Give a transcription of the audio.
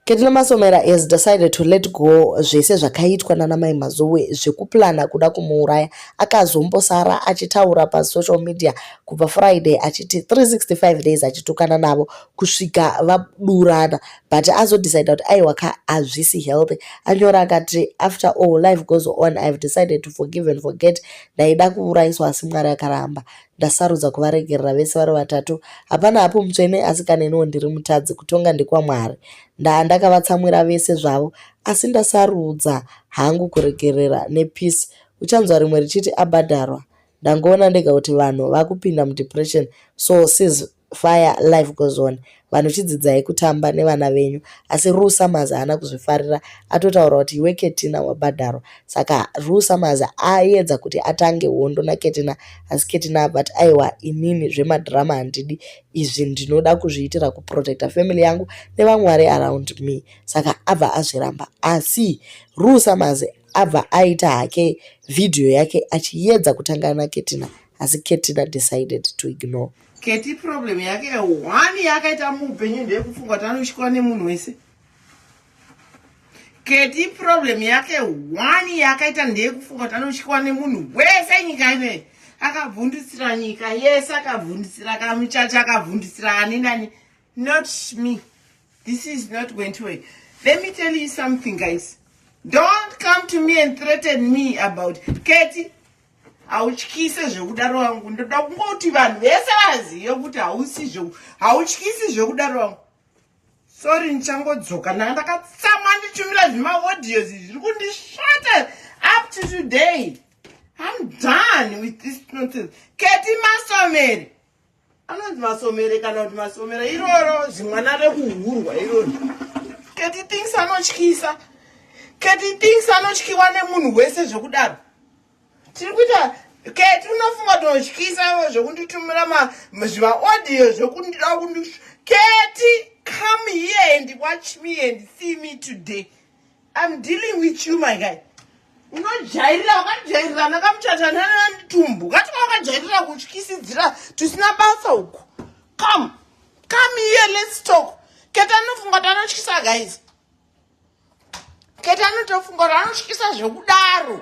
Ketina Masomera has decided to let go zvese zvakaitwa nana mai Mazowe zvekuplana kuda kumuuraya. Akazombosara achitaura pa social media kubva Friday achiti 365 days achitukana navo kusvika vadurana but azodecide kuti aiwa ka hazvisi healthy. Anyora akati after all life goes on I have decided to forgive and forget. Ndaida kuuraiswa asi Mwari akaramba. ndasarudza kuvaregerera vese vari vatatu hapana hapo mutsvene asi kana iniwo ndiri mutadzi kutonga ndikwamwari ndaa ndakavatsamwira vese zvavo asi ndasarudza hangu kuregerera nepeace uchanzwa rimwe richiti abhadharwa ndangoona ndega kuti vanhu vakupinda mudepression so sis Fire life goes on. Vanhu chidzidzai kutamba nevana venyu. Asi Rue Summers haana kuzvifarira. Atotaura kuti iwe Ketina wabhadharwa. Saka Rue Summers aedza kuti atange hondo naKetina asi Ketina abva ati aiwa inini zvemadrama handidi izvi ndinoda kuzviitira kuprotecta family yangu nevamwe vari around me. Saka abva azviramba. Asi Rue Summers abva aita hake video yake achiedza kutangana naKetina asi Ketina decided to ignore. Keti problem yake one yakaita muupenyu ndeyekupfungwa tanoshikwa nemunhu wese. Keti problem yake one yakaita ndeyekupfungwa tanoshikwa nemunhu wese nyika ine. Akabvundisira nyika yese akabvundisira kamuchacha akabvundisira ani nani not me. This is not going to work. Let me tell you something guys. Don't come to me and threaten me about Keti hautyise zvekudaro wangu ndoda kungoti vanhu vese vazive kuti hausi zve hautyisi zvekudaro wangu sorry ndichangodzoka ndaa ndakatsamwa ndichumira zvimaodios zviri kundishata up to today i'm done with this nonsense keti masomeri anonzi masomere kana kuti masomere iroro zimwana rekuhurwa iroro keti things anotyisa keti things anotyiwa nemunhu wese zvekudaro tiri kuita keti unofunga tinotyisa ivo zvekunditumira zvimaaudio zvekundida kundi keti come here and watch me and see me today I'm dealing with you my guy unojairira wakajairira nakamuchacha nananitumbu kati wakajairira kutyisidzira tusina basa uku come come here let's talk keta anofunga kuti anotyisa guys keta anotofunga kuti anotyisa zvekudaro